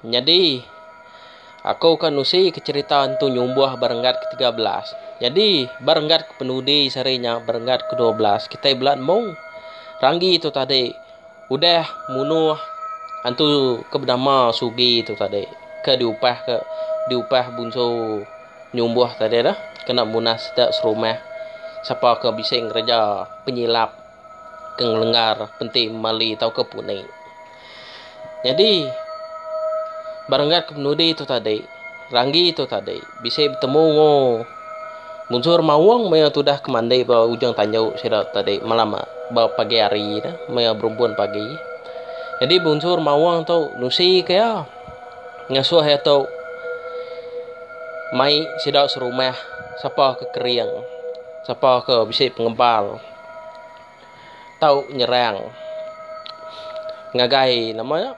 Nyadi, aku ka nusika cherita entu nyumbuh ba renggat ke tiga belas. Nyadi, ba renggat ke penudi sehari nya, ba renggat ke dua belas, kitai bela nemu ranggi tu tadi udah munuh antu ke benama Sugi tu tadi ke diupah ke diupah bunsu nyumbuh tadi tu kena munah sida serumah sapa ke bisi ngereja penyilap ke ngelenggar penti memali tauka puni. Nyadi, ba renggat ke penudi tu tadi, Ranggi tu tadi bisi betemu enggau Mujur Maung maya tudah ke mandi ba ujung tandu sida tu tadi malam ba pagi hari tu, maya berumpun pagi. Nyadi Mujur Maung tu nusika iya ngasuh iya tu mai sida serumah sapa ke kering, sapa ke bisi pengebal. tau nyerang ngagai nama nya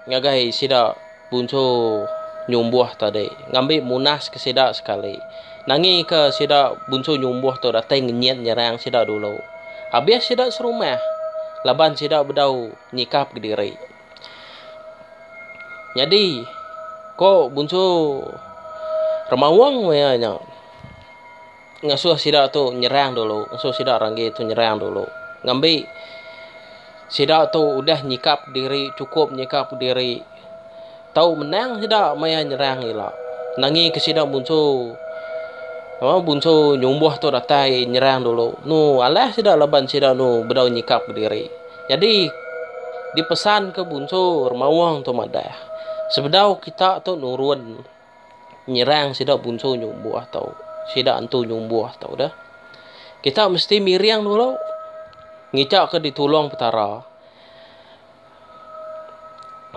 ngagai sida puncho nyumbuh tadi ngambi munaska sida sekali nangika sida puncho nyumbuh tu datai ngenyit nyerang sida dulu abis sida serumah laban sida bedau nyikap kediri nyadi ko puncho remaung maya nya. ngasuh sida tu nyerang dulu, ngasuh sida renggi tu nyerang dulu. Ngambi sida tu udah nyikap diri, chukup nyikap diri, tau menang sida maya nyerang ila. Nangika sida munsu aaa munsu nyumbuh tu datai nyerang dulu. Nu alah sida laban sida nu bedau nyikap diri. Nyadi dipesanka bunsu Remaung tu madah, sebedau kita tu nurun. nyerang sida bunsu nyumbuh tau sida antu nyumbuh tau dah kita mesti miring dulu ngicak ke ditulung petara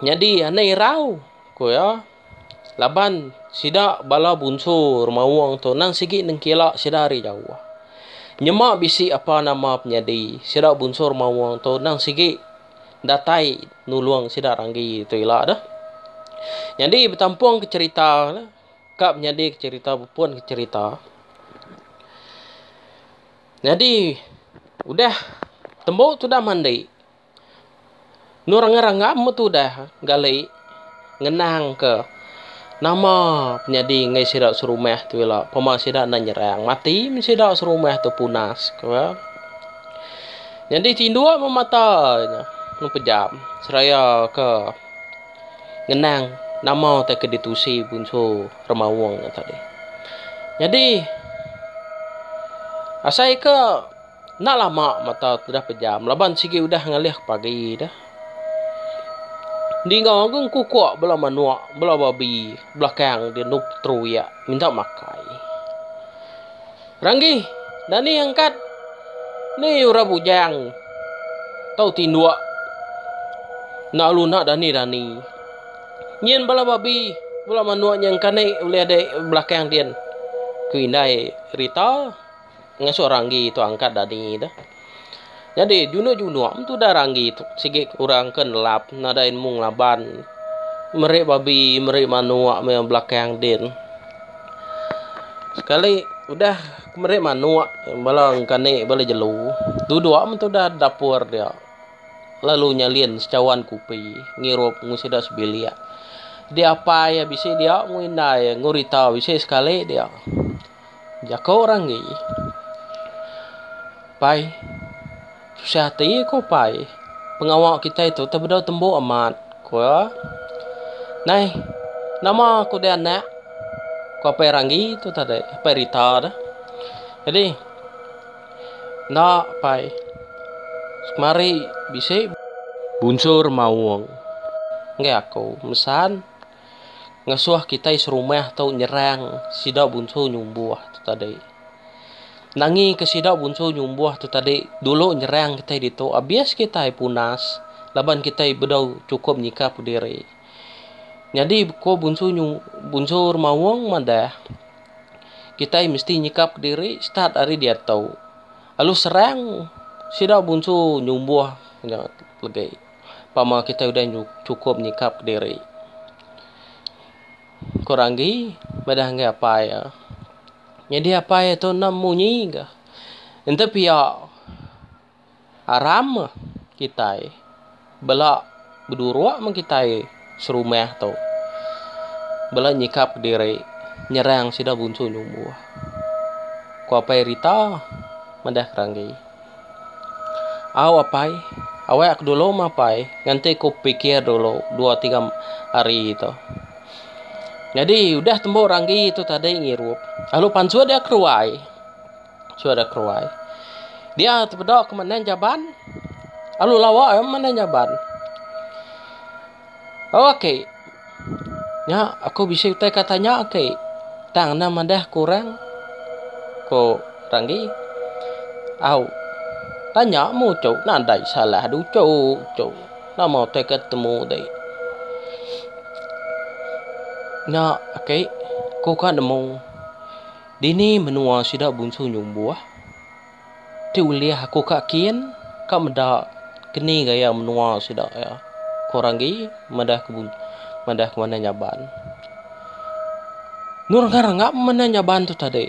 nyadi ane irau ku iya laban sida bala bunsu remaung tu nang sigi nengkila sida ari jauh nyema bisi apa nama penyadi sida bunsu remaung tu nang sigi datai nulung sida ranggi tu ila deh. Nyadi betampung ke cerita ne ka menyadi ke cerita bepun ke cerita. Nyadi udah tembu tudah mandi nu rengam-rengam metudah gali. ngenangka nama penyadi enggai sida serumah tu ila pema sida enda nyerang mati mih sida serumah tu punas ku iya. Nyadi tinduk meh mata nya lalu pejam seraya ke ngenang nama utai ke ditusi punsu remaung nya tadi. Nyadi asai ke. Enda lama mata udah pejam laban sigi udah ngalih pagi dah. Ninga agung kukuk bala manuk, bala babi belakang dia nup teruyak minta makai. Ranggi, Dani angkat. Ni orang bujang. Tau tinduk. Nak alu nak dani-dani. Nyin bala babi, bala manuk nyengkanik ulih dek belakang din. Ku indai Rita. ngasuh ranggi tu angkat dani tu. Nyadi junuk-junuk am tudah ranggi tu sigi orang ke nelap nadai nemu ngelaban meri babi meri manuk maya belakang din. Sekali udah meri manuk bala engkani bala jelu duduk am tudah dapur dia lalu nyalin sechawan kupi ngirup mung sida sebilik. Diapai bisi dia mung indai ngurita bisi sekali dia. Jaku orang agi. Pai. Susah ati ko pai. Pengawa kitai tu tau bedau tembu amat ko. Nai nama ko deh anak ko apai ranggi tu tadi apai rita tu. Jadi enda pai semari bisi bunsur maung ngagai aku mesan. Ngasuh kitai serumah tu nyerang sida bunsu nyumbuh tu tadi. Nangika sida bunsu nyumbuh tu tadi dulu nyerang kitai ditu abis kitai punas laban kitai bedau chukup nyikap diri. Nyadi ko bunsu nyu bunsu remaung madah kitai mesti nyikap diri start ari diatu lalu serang sida bunsu nyumbuh nya legi. pama kitai udah chukup nyikapka diri. Ku Ranggi madah ngagai apai iya. Nyadi apai iya tu endang munyi ga. Enti pia aram kitai bela beduruk meng kitai serumah tu bela nyikapka diri nyerang sida bunsu nyumbuh, ku apai Rita madah Ranggi. Au apai, awai aku dulu meh apai, nganti ku pikir dulu dua tiga hari tu. Nyadi udah tembu ranggi tu tadi ngirup, lalu pansut dia keruai, pansut dia keruai. Dia tebeda ke mending jaban, lalu lawa mending jaban. Ok. Nya aku bisi utai ka tanya ke. Tang enda madah ke orang, ku Ranggi. Au. Tanya mu tu nadai salah du tu. Nama utai ke temu ti. Nya ake ku ka nemu dini menua sida bunsu nyumbuh. Ti ulih aku ka kin, ka meda keni gaya menua sida iya. Ku orang agi madah ke madah ke Manah Nyaban. Nur ngah rengap meh Manah Nyaban tu tadi.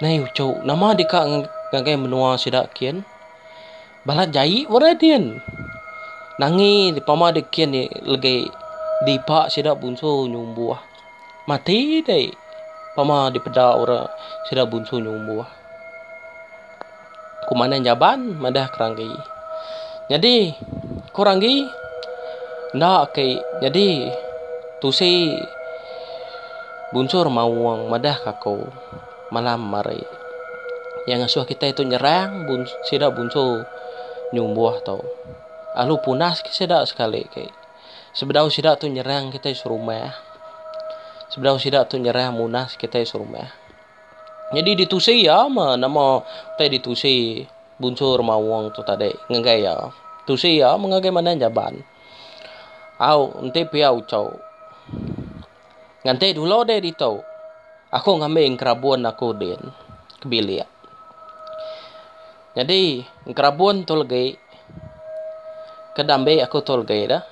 Nai uchu nama deka ngagai menua sida kin. Balat jai ba Radin. Nangi pama dek kian ni legi dipa sida bunsu nyumbuh. Mati dei pama dipeda orang sida bunsu nyumbuh. Kumandan Jaban madah ke Ranggi. Nyadi ko Ranggi enda ke nyadi tusi bunsu Remaung madah ka ko. malam hari. Iya ngasuh kitai tu nyerang sida bunsu nyumbuh tu. Alu punas ke sida sekali ke. Sebedau sida tu nyerang kitai serumah. Sebedau sida tu nyerang munas kitai serumah. Nyadi ditusi iya meh nama utai ditusi bunsu remaung tu tadi ngagai iya. Tusi iya meh ngagai manah Jaban. Au enti pia uchu. Nganti dulu deh ditu, aku ngambi engkerabun aku din ke bilik. Nyadi engkerabun tu legi ke diambi aku tu legi dah.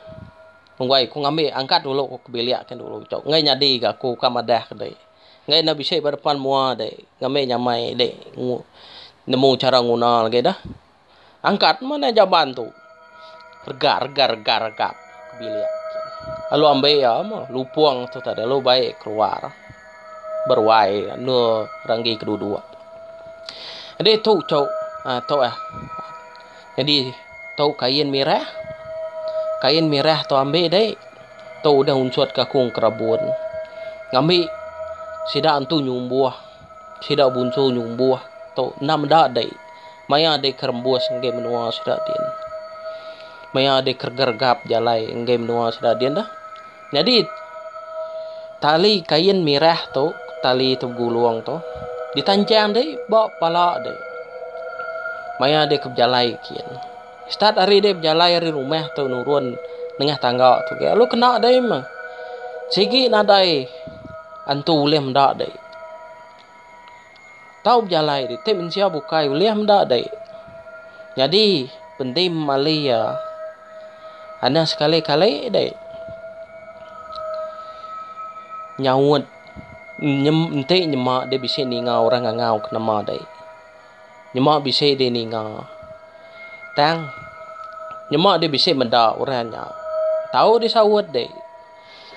Enggai aku ngambi angkat dulu aku ke bilik ke dulu tu. Enggai nyadi ga aku ka madah ke dih. Enggai enda bisi ba depan mua dih ngambi nyamai dih nemu chara nguna legi dah. Angkat mana jaban tu. Regat, regat, regat, regat. Bilik. Lalu ambil ya, mah. Lupung tu tadi. Lalu baik keluar. Berwai. Nu ranggi keduduk. Jadi tu cok. Ha, tu eh. Jadi tu kain mirah. Kain mirah tu ambil dek. Tu udah unsut kakung kerabun. Ngambil sida tu nyumbuh. Sida bunsu nyumbuh tu enda meda dei maya dei ke rembus enggai menua sida din. Maya dei ke regergap jalai enggai menua sida din dah. Nyadi tali kain mirah tu, tali ti begulung tu ditanjang dei ba pala dei maya dei ke bejalai gin. Stat hari dei bejalai ari rumah tu nurun nengah tangga tu gin lalu kena dei meh. Sigi nadai antu ulih meda dei. Tau bejalai ditu mensia bukai ulih meda dek. Nyadi penting memali iya anih sekali kali dek. Nyaut enti nyema dek bisi ninga orang ngangau ke nama dek. Nyema bisi dih ninga. Tang, nyema dih bisi meda orang nya. Tau dih saut dih.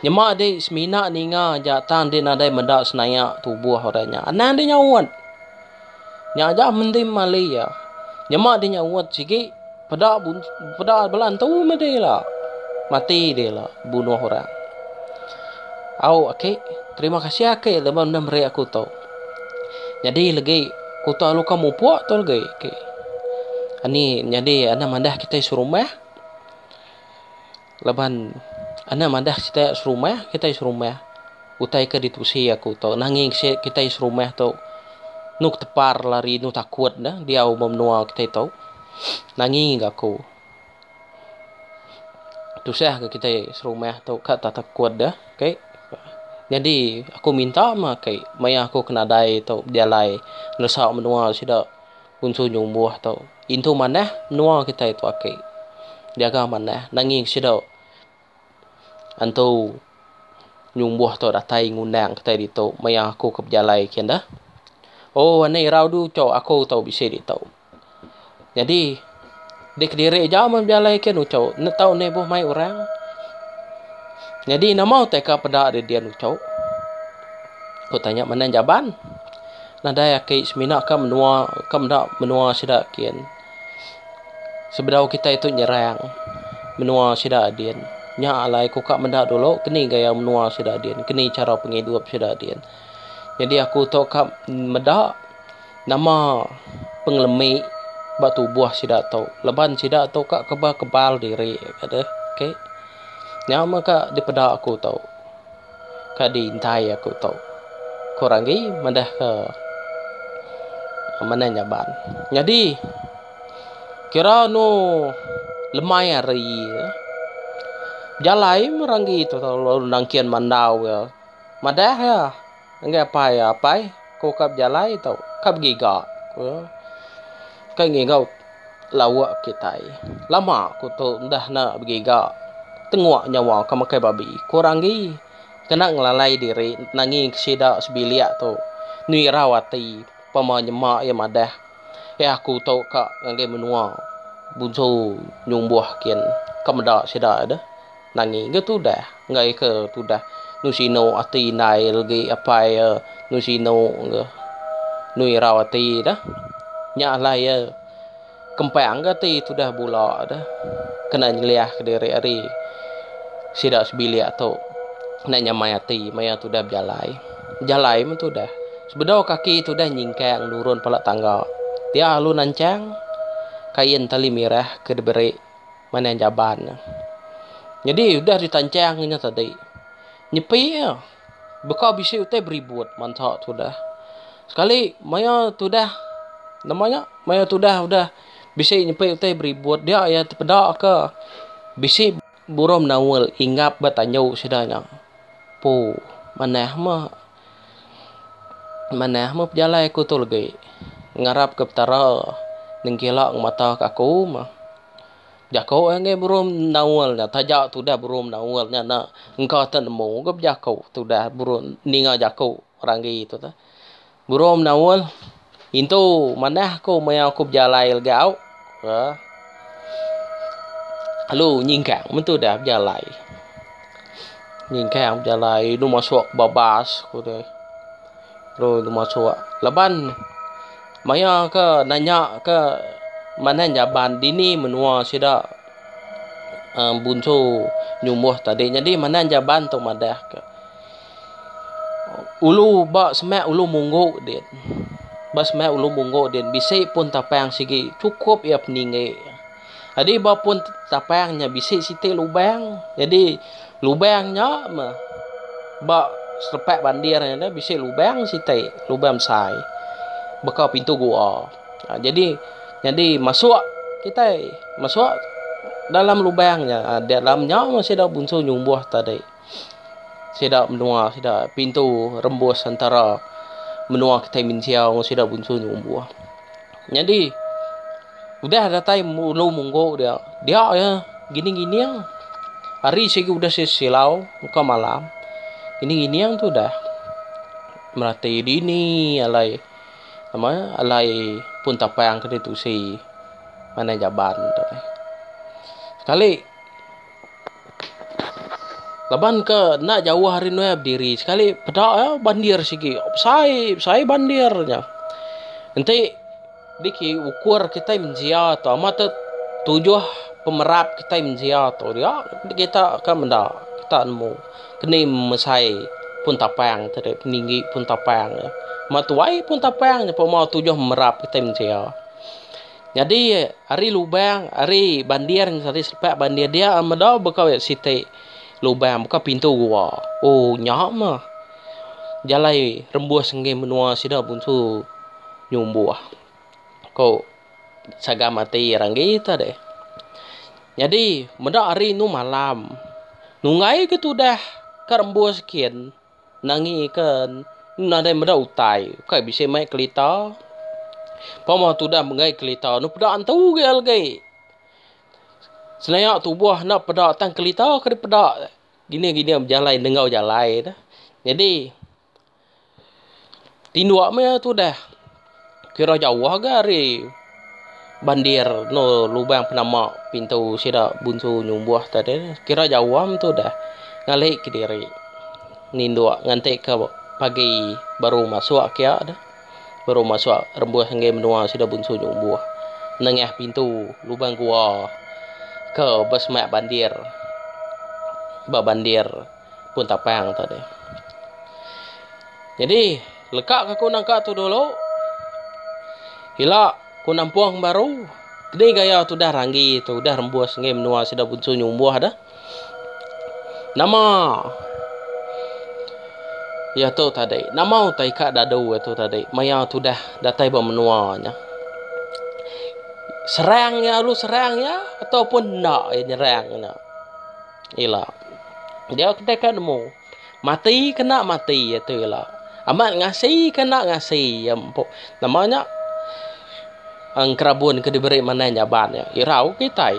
Nyema dih semina ninga aja tang dih nadai meda senaya tubuh orang nya. Anang dih nyaut. Nya aja menti mali iya. Nyema dih nyaut sigi. Peda peda bela entu meh deh ila. Mati deh ila bunuh orang. Au aki, terima kasih aki laban enda meri aku tu. Nyadi legi kuta lu ka mupuk tu legi aki. Ani nyadi enda madah kitai serumah. Laban enda madah kitai serumah, kitai serumah. Utai ke ditusi aku tu, nanging kitai serumah tu enu ketepar lari enu takut ne diau ba menua kitai tu. Nanging aku tusah ke kitai serumah tu ka tak takut deh. Kai nyadi aku minta mah kai maya aku ke nadai tu bejalai neresa menua sida. Unsu nyumbuh tu intu manah menua kitai tu aki. Diaga manah nanging sida antu nyumbuh tu datai ngundang kitai ditu maya aku ke bejalai ke enda. Oh anih irau dulu cak aku tu bisi ditu. Nyadi. Di kediri ija mun bejalai ke nuchu enda tau ni ibuh mai orang. Nyadi nama utai ka peda ri dia nuchu. Ku tanya Manang Jaban. Nadai aki semina ka menua ka meda menua sida kin. Sebedau kitai tu nyerang menua sida din. Nya alai ku ka meda dulu keni gaya menua sida din, keni chara pengidup sida din. Nyadi aku tu ka meda. Nama pengelemi ba tubuh sida tu laban sida tu ka kebal kebal diri ka deh okay. Nya meh ka dipeda aku tu ka di intai aku tu ku Ranggi madah ka manah nyaban. Nyadi kira anu lemai hari ya bejalai meh Ranggi tu lalu nangkin mandau ya madah ya. Enggai apai iya, Apai, aku ka bejalai tu, ka begiga, ku iya. Ka ngigau lauk kitai. Lama aku tu udah enda begiga. Tenguk nyawa ka makai babi, ku orang agi. Kena ngelalai diri nangi ke sida sebilik tu. Nirau ati pama nyema iya madah. Eh aku tu ka ngagai menua bunsu nyumbuh kin. Ka meda sida ai deh. Nani ga tudah enggai ke tudah nusino ati indai legi apai iya nusino ga nu irau ati dah nya alai iya kempang ga ati tudah bula dah kena nyeliah kediri ari sida sebilik tu kena nyamai ati maya tudah bejalai bejalai mun tudah sebedau kaki tudah nyingkang nurun pala tangga dia lalu nanchang kain tali mirah ke diberi. Manah Jaban nya. Nyadi udah ditanchang inya tadi. Nyepi iya. Baka bisi utai beribut mansa tudah. Sekali maya tudah nama nya maya tudah udah bisi nyepi utai beribut dia iya tepeda ke bisi burung menaul ingap ba tanju sida nya. Poo manah meh. Manah meh pejalai aku tu legi. Ngarap ke Petara nengkila ngemata ke aku meh. Bejaku angai buruh mendaul nya taja tudah buruh mendaul nya enda engka te nemu ke bejaku tudah buruh ninga jaku orang agi tu. Buruh mendaul. Intu manah aku maya aku bejalai legau ka lalu nyingkang mentu dah bejalai. Nyingkang bejalai inu masuk ba bas aku deh. Lalu inu masuk laban maya ke nanya ke manah jaban dini menua sida uhh bunsu nyumbuh tadi nyadi manah jaban tu madah ka. Ulu ba semak ulu munggu din. Ba semak ulu munggu din bisi pun tapang sigi chukup iya peninggi. Nyadi ba pun tapang nya bisi siti lubang. Nyadi lubang nya meh ba selepak bandir nya dah bisi lubang siti, lubang besai baka pintu gua. Nyadi nyadi masuk kitai masuk dalam lubang nya dalam nya meh sida bunsu nyumbuh tadi. sida menua sida pintu rembus antara menua kitai mensia enggau sida bunsu enggau umbuh. Nyadi udah datai ulu munggu dia, dia aja gining-gining hari sigi udah silau engka malam gining-gining tu udah meratai dini alai nama nya alai pun tapang ke ditusi manah jaban tu. Sekali. Laban ke enda jauh ari nuai bediri sekali peda iya bandir sigi besai besai bandir nya. Enti niki ukur kitai mensia tu amat aja tujuh pemerat kitai mensia tu dia kita akan meda kita nemu keni mesai pun tapang tu deh peninggi pun tapang. Amat tuai pun tapang nyeput mauh tujuh merat kitai mensia. Nyadi ari lubang ari bandir ari sepak bandir dia meda baka we siti lubang baka pintu gua. Ooh nya mah jalai rembus enggin menua sida punsu nyumbuh ko sagam ati iya ranggi ta deh. Nyadi meda hari enu malam nunggaika tudah ka rembus gin. Nangi ke nadai meda utai. Ukai bisi mai kelita. Pemah tudah menggai kelita enu peda entu agi algi. Senayak tubuh enda peda tang kelita ke dipeda. Dini gini bejalai nenggau jalai ne. Nyadi tinduk maya tudah. kira jauh ga ari bandir eno lubang penama pintu sida bunsu nyumbuh tadi ne kira jauh am tu dah ngalih kediri ninduk nganti ke pagi baru masuk kia deh baru masuk rembus enggei menua sida bunsu nyumbuh nengah pintu lubang gua ke ba semak bandir ba bandir pun tapang tadi jadi. Leka ka ku nangka tu dulu. Ila ku nampung baru. Keni gaya tu dah ranggi tu udah rembus ngai menua sida bunsu nyumbuh dah. Nama Ya tu tadi. Nama utai ka dadu ya tu tadi. Maya tu dah datai ba menua nya. Serang ya alu serang ya ataupun enda ya nyerang nya. Ila. Dia kedai ka nemu. Mati kena mati iya tu ila. Amat ngasi kena ngasi iya empu. Nama nya engerabun ke diberi manah nyaban nya. Irau kitai.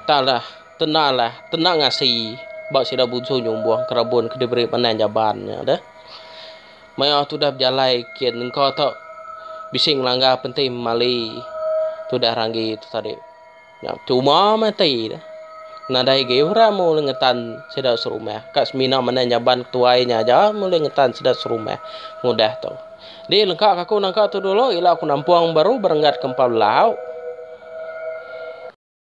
Tang lah tena lah tena ngasi ba sida bunsung nyumbuh engerabun ke diberi manah nyaban nya deh. Maya tudah bejalai kin engka tu bisi ngelanggar penting memali tudah ranggi tu tadi. Nya betuma meh ati deh. Nadai agi orang meh ngetan sida serumah. Ka semina manah nyaban ketuai nya aja meh ulih ngetan sida serumah ngudah tu. Di lengka ka aku nangka tu dulu ila aku nampung baru berenggat ke empat belau.